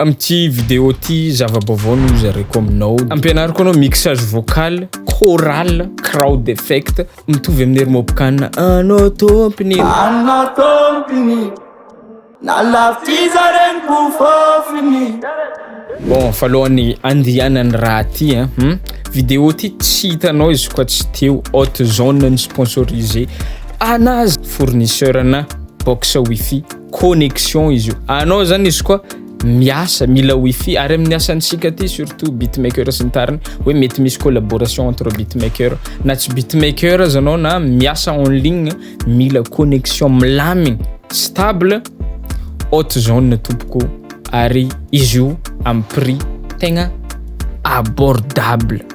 Amin'ity vidéo ity zava-baovao no hozaraiko aminao. Ampianariko anao mixage vocal, choral, crowd effect mitovy amin'ny hermopcan Anao tompiny e. Anao tompiny e. Nalafiza reniko fofony e. Bon, fa alohan'ny andehanan'ny raha ty a, hum, vidéo ty tsy hitanao izy koa tsy teo, Hot Zone no sponsorisé anazy, fournisseur-na box wifi. connexion izy io anao zany izy koa miasa mila wifi ary amin'ny asantsika aty surtout beatmaker sy ny tariny hoe mety misy collaboration entre beatmaker na tsy beatmaker aza anao na miasa en ligne mila connexion milamigny stable haute zone tompoko ary izy io amin'ny prix tegna abordable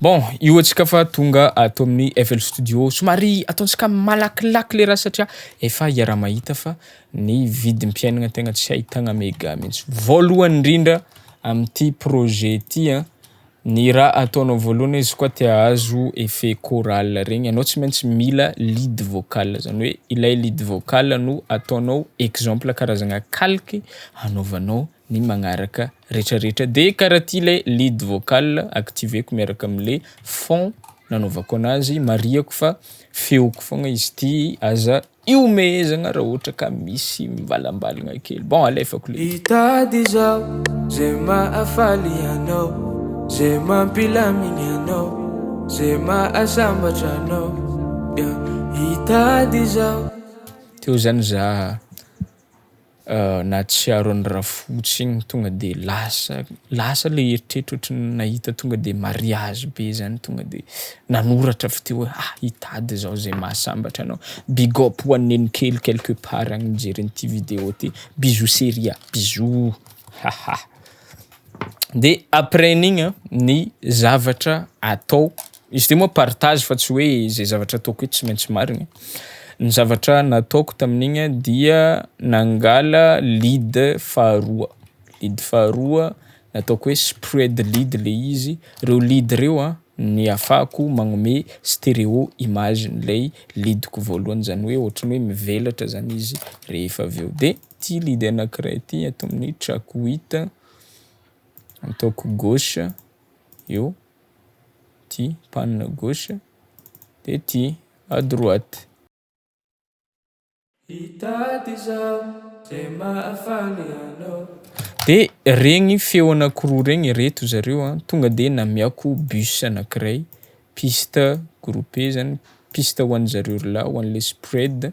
Bon, io antsika fa tonga ato amin'ny FL Studio. Somary ataontsika malakilaky le raha satria efa iaraha-mahita fa ny vidim-piainana tegna tsy ahitagna mega mihitsy. Voalohany indrindra amin'ity projet ity an, Ny raha ataonao voalohany izy koa te ahazo effet choral regny anao tsy maintsy mila lead vocal zany hoe ilay lead vocal no ataonao exemple karazagna calque hanaovanao ny magnaraka retraretra de karaha ty le lead vocal activeko miaraka amle fond nanaovako anazy marihako fa feoko fogna izy ty aza Ihomehezagna raha ohatra ka misy mivalambalagna kely. Bon alefako le. Hitady izaho ze mahafaly anao ze mampilamigny anao ze mahasambatra anao yeah. Hitady izaho. Teo zany za. Nahatsiaro an'i Rafotsy igny tonga de lasa lasa le eritreritro ohatry ny nahita tonga de mariazy be zany tonga de nanoratra avy teo hoe ah! hitady zaho zay mahasambatra anao. Big up ho an'i Nenokely quelque part agny mijery an'ity vidéo ty. Bisous Seria, bisous. de apres n'igny an ny zavatra atao izy ty moa partage fa tsy hoe zay zavatra ataoko eto tsy maintsy marigny, ny zavatra nataoko tamin'igny dia nangala lead faharoa, lead faharoa nataoko hoe spread lead le izy, reo lead reo an ny afahako magnome stereo image an'ilay lead-ko voalohany zany hoe ohatry ny hoe mivelatra zany izy rehefa aveo de. Ity lead anankiray ity ato amin'ny track huit ataoko gauche eo, ity panne gauche dia ity à droite. Hitady izaho izay mahafaly anao. Dia regny feo anankiroa regny, ireto zareo an, tonga dia namiako bus anankiray, piste groupe zany, piste ho an'izareo roalahy, ho an'ilay spread.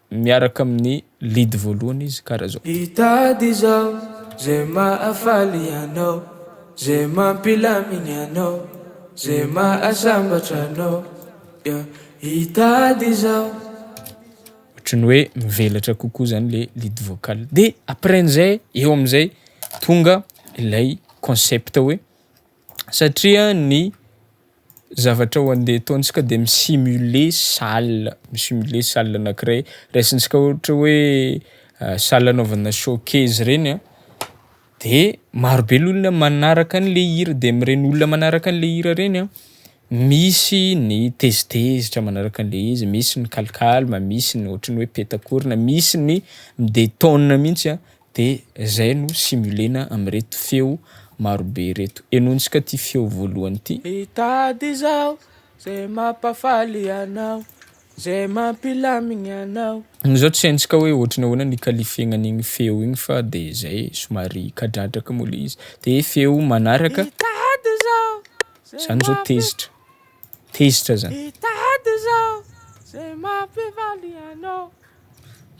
Miaraka amin'ny lead voalohany izy kara izao. Hitady izao ze mahafaly anao ze mampilamigny anao ze mahasambatra anao yeah hitady izao. Ohatry ny hoe mivelatra kokoa zany le lead vocal de après an'izay eo amin'izay tonga ilay concept hoe Satria ny zavatra ho andeha ataontsika dia mi-simuler salle, mi-simuler salle anankiray, raisintsika ohatra hoe salle anaovana showcase regny a de marobe ny olona manaraka an'le hira de am'regny olona manaraka an'le hira regny a misy ny tezitezitra manaraka an'le izy, misy ny calcalme, misy ny ohatry ny hoe petak'orona, misy ny midetone mihitsy a, De zay no simulena amin'ireto feo marobe ireto. Henointsika ity feo voalohany ity. Hitady izao ze mampafaly anao, ze mampilamigny anao. Ny zao tsy haintsika hoe ohatry ny ahoana ny ikalifegnan'igny feo igny fa de zay somary kadradraka moa le izy. De feo manaraka. Hitady izao ze mampi. Zany zao tezitra. Tezitra zany. Hitady izao ze mampifaly anao.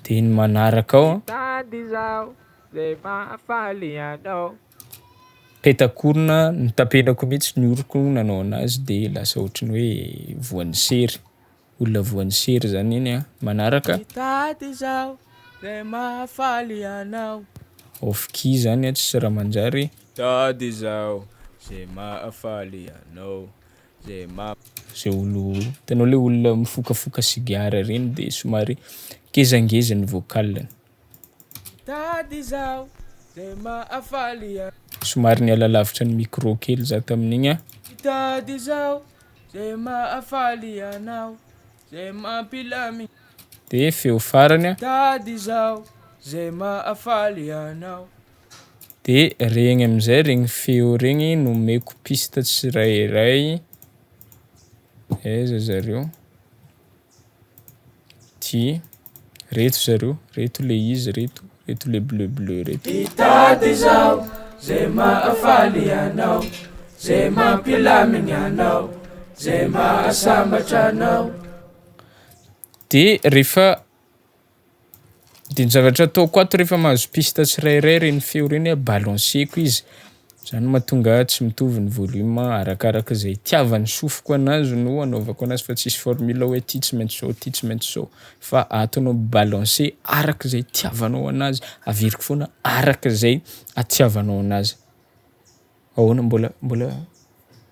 Dia ny manaraka ao an. Mitady izaho izay mahafaly anao. Peta-korona notapenako mihitsy ny oroko nanao anazy dia lasa ohatry ny hoe voan'ny sery. Olona voan'ny sery izany iny an. Manaraka. Mitady izaho izay mahafaly anao. Off key izany an, tsisy raha manjary. Mitady izaho izay mahafaly anao. Zay olo hitanao le olona mifokafoka sigara reny de somary ngezangeza ny vocal-ny. Somary niala lavitra ny micro kely za tamin'igny an. De feo farany an. de regny amizay regny feo regny no omeko piste tsirairay aiza zareo ty reto zareo reto le izy reto reto le bleu bleu reto hitady izao ze mahafaly anao ze mampilamigny anao ze mahasambatra anao de refa De ny zavatra ataoko ato rehefa mahazo piste tsirairay ireny feo ireny a balanceko izy, zany no mahatonga ahy tsy mitovy ny volume arakaraka izay itiavan'ny sofiko anazy no anaovako anazy fa tsisy formule hoe ty tsy maintsy zao ty tsy maintsy zao fa ato anao mi-balance araka izay itiavanao anazy, averiko foana araka izay itiavanao anazy. Ahoana mbola mbola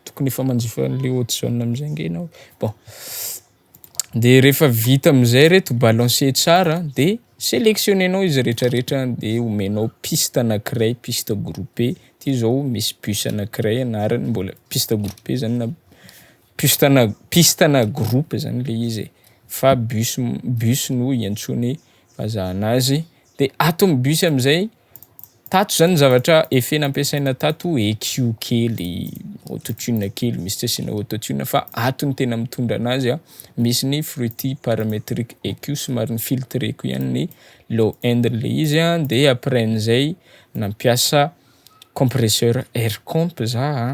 tokony efa manjifa anle haute zone amzay nge enao bon de refa vita amzay reto balancer tsara de selectionner-nao izy retraretra de omenao piste anakiray piste groupe ty zao misy bus anakiray anarany mbola piste groupe zany na. Piste na piste na groupe zany le izy e, fa bus bus no iantsoany vazaha anazy, de ato amin'ny bus am'zay, tato zany ny zavatra effet nampiasaina tato echo kely, auto-tune kely, misy tsy asiana auto-tune fa ato ny tena mitondra anazy a, misy ny fruity parametric echo somary ni-filtreko ihany ny low end le izy a, de après an'zay nampiasa compresseur air comp za a.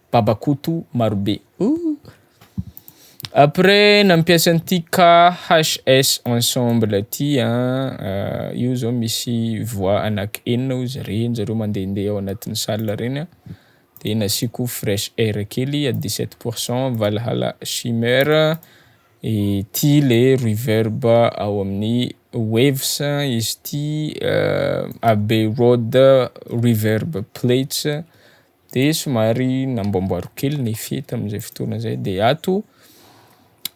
Babakoto marobe ooh. Après nampiasa an'ity KHS ensemble ty an, io zao misy voix anaky enina ozy ireny zareo mandehandeha ao anatin'ny salle ireny an, de nasiako fresh air kely à dix sept pour cent valhalla shimmer, ity le reverb ao amin'ny waves izy ity abbey road reverb plates. de somary namboamboariko kely ny fety amin'izay fotoana zay de ato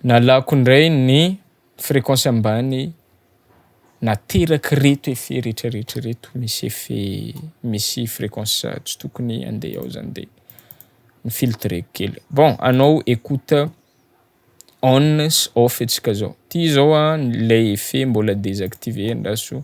nalako indray ny fréquence ambany naterak' reto effet retraretra reto misy effet misy fréquence tsy tokony ande ao zany de ny filtreko kely bon anao écoute on sy off atsika zao ty zao an le effet mbola desactiver andraso.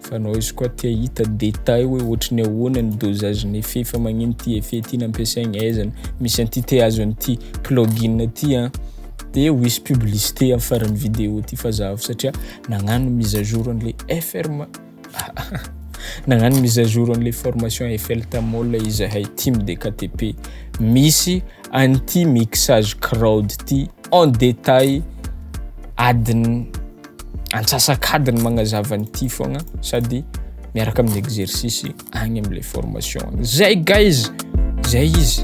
Fa noise koa tia hita détail hoe ohatry ny ahoana ny dosage ny effet fa magnino ty effet ty nampiasaigny aiza no misy an'ty te azo an'ty plugin ty an de ho hisy publicité am faran'ny vidéo ty fa zaho satria nagnano mise à jour an'le FRM nagnano mise à jour an'le formation FL Tamol izahay team DKTP misy an'ty mixage crowd ty en détail adin'ny antsasak'adiny magnazava an'ity fogna sady miaraka amin'ny exercice agny am'le formation agny. Zay guys! Zay izy!